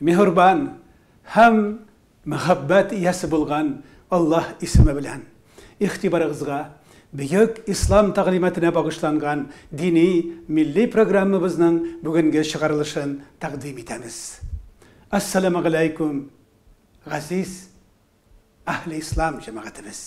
Миһербан һәм мәхәббәт иясе булган Аллаһ исеме белән игътибарыгызга бөек Ислам тәгълиматына багышланган дини милли программабызның бүгенге чыгарылышын тәкъдим итәбез. Ассаламугаләйкүм, газиз Әһле Ислам җәмәгатебез.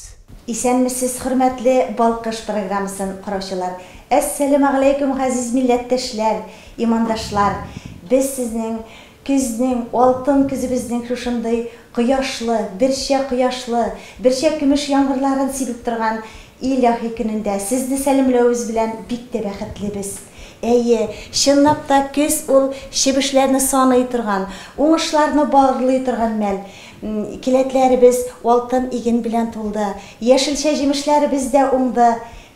Исәнмесез хөрмәтле Балкыш программасын караучылар! Әссәләмәгаләйкүм газиз милләттәшләр, имандашлар! Без сезнең көзнең, алтын көзебезнең шушындый кояшлы, берчә кояшлы, берчә көмеш яңгырларын сибеп торган илаһи көнендә сезне сәламләвебез белән бик тә бәхетлебез. Әйе, чынлап та көз ул чебешләрне саный торган, уңышларны барлый торган мәл. Келәтләребез алтын иген белән тулды, яшелчә җимешләребез дә уңды.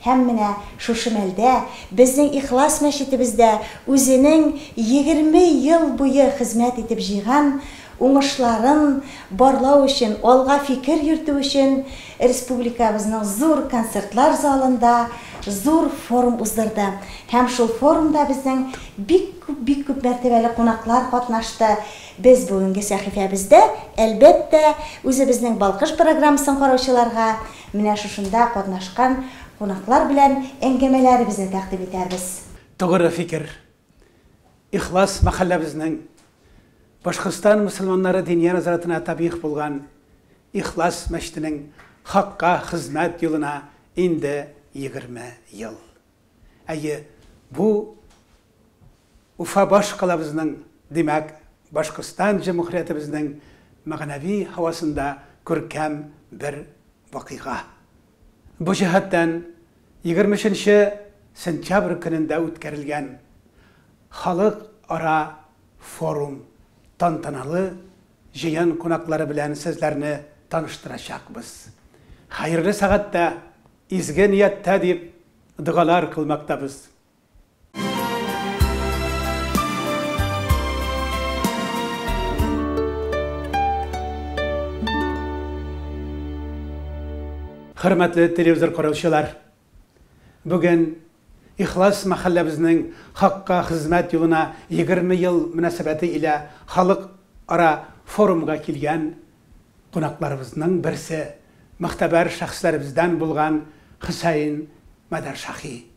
Һәм менә шушы мәлдә безнең Ихлас мәчетебездә үзенең егерме ел буе хезмәт итеп җыйган уңышларын барлау өчен, алга фикер йөртү өчен республикабызның зур концертлар залында зур форум уздырды. Һәм шул форумда безнең бик күп, бик күп мәртәбәле кунаклар катнашты. Без бүгенге сәхифәбездә, әлбәттә, үзебезнең Балкыш программасын караучыларга менә шушында катнашкан кунаклар белән әңгәмәләребезне тәкъдим итәрбез. Тугры фикер. Ихлас мәхәлләбезнең Башкортстан мөселманнары Диния назаратына табигъ булган Ихлас мәчетенең хакка хезмәт юлына инде егерме ел. Әйе, бу Уфа баш калабызның, димәк, Башкортстан җөмһүриятебезнең мәгънәви һавасында күркәм бер вакыйга. Бу җәһәттән, егерме өченче сентябрь көнендә үткәрелгән Халыкара форум тантаналы җыен кунаклары белән сезләрне таныштырачакбыз. Хәерле сәгатьтә, изге нияттә дип догалар кылмактабыз. Хөрмәтле телевизор караучылар! Бүген Ихлас мәхәлләбезнең хакка хезмәт юлына 20 ел мөнәсәбәте илә халык ара форумга килгән кунакларыбызның берсе, мөгътәбәр шәхесләребездән булган Хөсәен Мәдәршаһи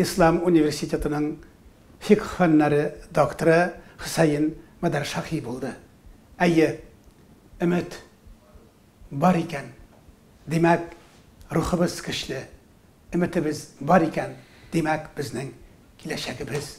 Ислам университетының фикһ фәннәре докторы Хөсәен Мадаршаһи булды. Әйе, өмет бар икән, димәк, рухыбыз көчле, өметебез бар икән, димәк, безнең киләчәгебез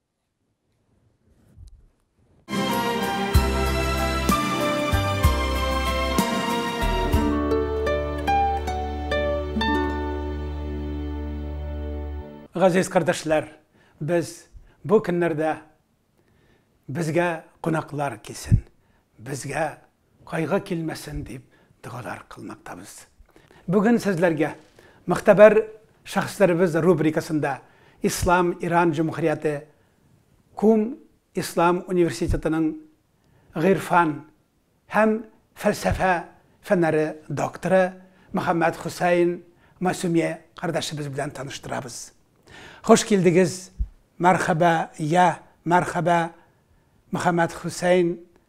Газиз кардәшләр, без бу көннәрдә безгә кунаклар килсен, безгә кайгы килмәсен дип догалар кылмактабыз. Бүген сезләргә Могтәбәр шәхесләребез рубрикасында Ислам Иран җөмһүрияте Кум ислам университетының гыйрфан һәм фәлсәфә фәннәре докторы Мөхәммәд Хөсәен Масумия кардәшебез белән таныштырабыз. Хуш килдегез, мәрхәбә, йә, мәрхәбә, Мөхәммәд Хөсәен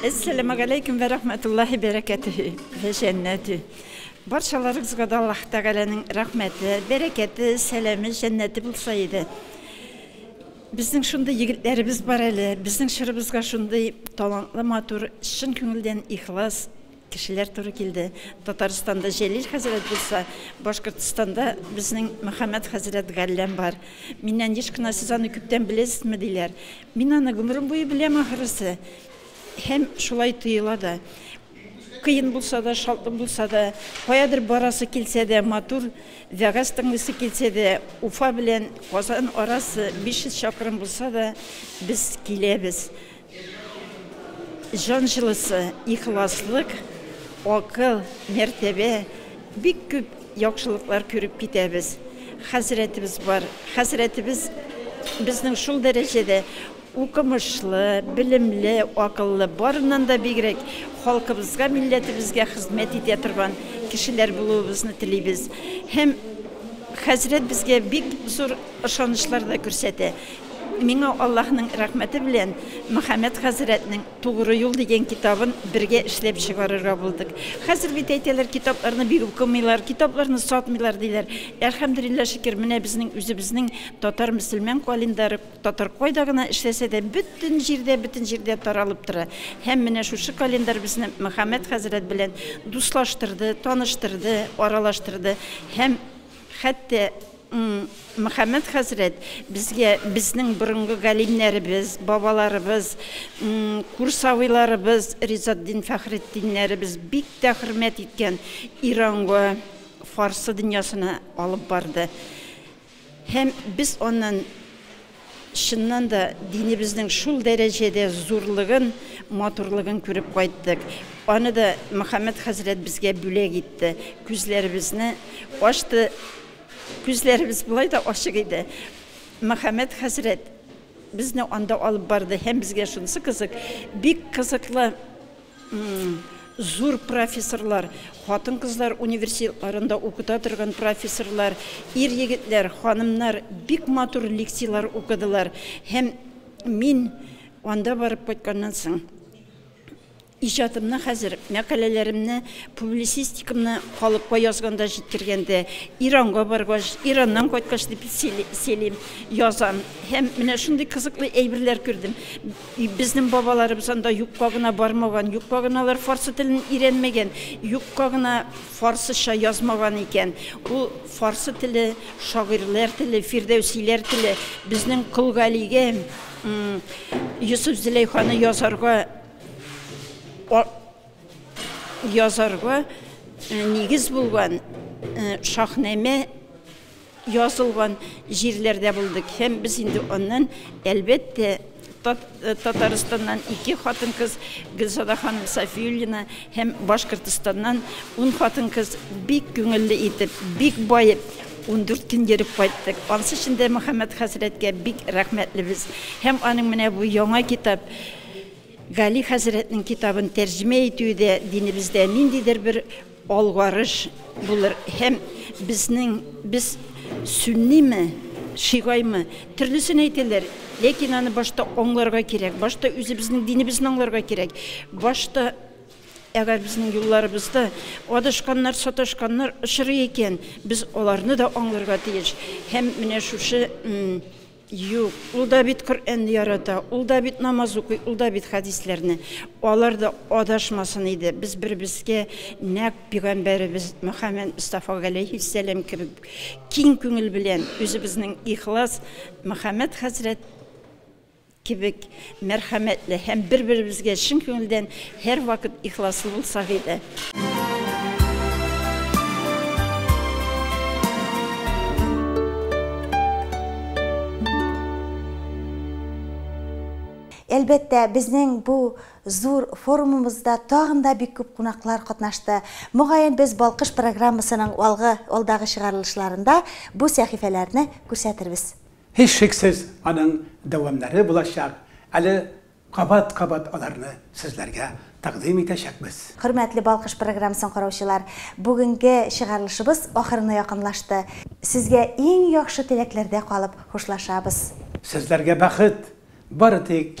Әссәламәгаләйкүм вә рахмәтуллаһи бәрәкәтүһи вә җәннәтү. Барчаларыгызга да Аллаһ Тәгаләнең рәхмәте, бәрәкәте, сәламе, җәннәте булса иде. Безнең шундый егетләребез бар әле, безнең чорыбызга шундый талантлы, матур, чын күңелдән ихлас, Кешеләр туры килде. Татарстанда Җәлил хәзрәт булса, Башкортстанда безнең Мөхәммәт хәзрәт Галләм бар. Миннән еш кына сез аны күптән беләсезме, диләр. Мин аны гомерем буе беләм, ахрысы. Һәм шулай тоела да. Кыен булса да, шатлык булса да, каядыр барасы килсә дә, матур вәгазь тыңлыйсы килсә дә, Уфа белән Казан арасы 500 чакрым булса да, без киләбез. Җан җылысы, ихласлык, акыл, мәртәбә, бик күп яхшылыклар күреп китәбез. Хәзрәтебез бар. Хәзрәтебез безнең шул дәрәҗәдә укымышлы, белемле, акыллы, барыннан да бигрәк халкыбызга, милләтебезгә хезмәт итә торган кешеләр булуыбызны телибез. Һәм хәзрәт безгә бик зур ышанычлар да күрсәтә. Миңа Аллаһның рәхмәте белән Мөхәммәд хәзрәтнең Тугры юл дигән китабын бергә эшләп чыгарырга булдык. Хәзер бит әйтәләр, китапларны бик укымыйлар, китапларны сатмыйлар диләр. Әлхәмдүлилләһ шөкер, менә безнең үзебезнең татар мөселман календаре татар кайда гына эшләсә дә, бөтен җирдә, бөтен җирдә таралып тора. Һәм менә шушы календарь безне Мөхәммәд хәзрәт белән дуслаштырды, таныштырды, аралаштырды һәм Хәтта Мөхәммәт хәзрәт безгә безнең борынгы галимнәребез, бабаларыбыз, курсавыйларыбыз, Ризатдин Фәхретдиннәребез бик тә хөрмәт иткән Иранга, фарсы дөньясына алып барды. Һәм без аннан Чыннан да, динебезнең шул дәрәҗәдә зурлыгын, матурлыгын күреп кайттык. Аны да Мөхәммәд хәзрәт безгә бүләк итте, күзләребезне ачты. Күзләребез болай да ачык иде. Мөхәммәд хәзрәт безне анда алып барды һәм безгә шунысы кызык, бик кызыклы Зур профессорлар, хатын-кызлар университетларында укыта торган профессорлар, ир-егетләр, ханымнар бик матур лекцияләр укыдылар. Һәм мин анда барып кайтканнан соң, иҗатымны хәзер, мәкаләләремне, публицистикамны халыкка язганда, җиткергәндә, Иранга баргач, Ираннан кайткач дип сөйлим, язам. Һәм менә шундый кызыклы әйберләр күрдем. И безнең бабаларыбыз анда юкка гына бармаган, юкка гына алар фарсы телен өйрәнмәгән, юкка гына фарсыча язмаган икән. Ул фарсы теле, шагыйрьләр теле, фирдәүсиләр теле. Безнең Кол Галигә Йосыф-Зөләйханы язарга язарга нигез булган Шаһнамә Язылган җирләрдә булдык һәм без инде аннан, әлбәттә, Татарстаннан ике хатын-кыз, Гөлзада ханым Сафиуллина һәм Башкортостаннан ун хатын-кыз бик күңелле итеп, бик баеп, ундүрт көн йөреп кайттык. Ансы өчен дә Мөхәммәт хәзрәткә бик рәхмәтлебез һәм аның менә бу яңа китап, Гали хәзрәтнең китабын тәрҗемә итүе дә динебездә ниндидер бер Алгарыш булыр һәм безнең без сөнниме, шигаймы, төрлесен әйтәләр, ләкин аны башта аңларга кирәк, башта үзебезнең динебезне аңларга кирәк, башта әгәр безнең юлларыбызда адашканнар, саташканнар очрый икән, без аларны да аңларга тиеш һәм менә шушы Юк, ул да бит Коръәнне ярата, ул да бит намаз укый, ул да бит хәдисләрне. Алар да адашмасын иде. Без бер-беребезгә нәкъ пигамбәребез Мөхәммәд Мостафа галәйһиссәлам кебек киң күңел белән, үзебезнең ихлас Мөхәммәд хәзрәт кебек Мәрхәмәтле һәм бер-беребезгә чын күңелдән һәрвакыт ихласлы булсак иде. Әлбәттә, безнең бу зур форумымызда тагын да бик күп кунаклар катнашты. Мөгаен, без Балкыш программасының алгы, алдагы чыгарылышларында бу сәхифәләрне күрсәтербез. Һичшиксез аның дәвамнары булачак, әле кабат-кабат аларны сезләргә тәкъдим итәчәкбез. Хөрмәтле Балкыш программасын караучылар, бүгенге чыгарылышыбыз ахырына якынлашты. Сезгә иң яхшы теләкләрдә калып хушлашабыз. Сезләргә бәхет, бары тик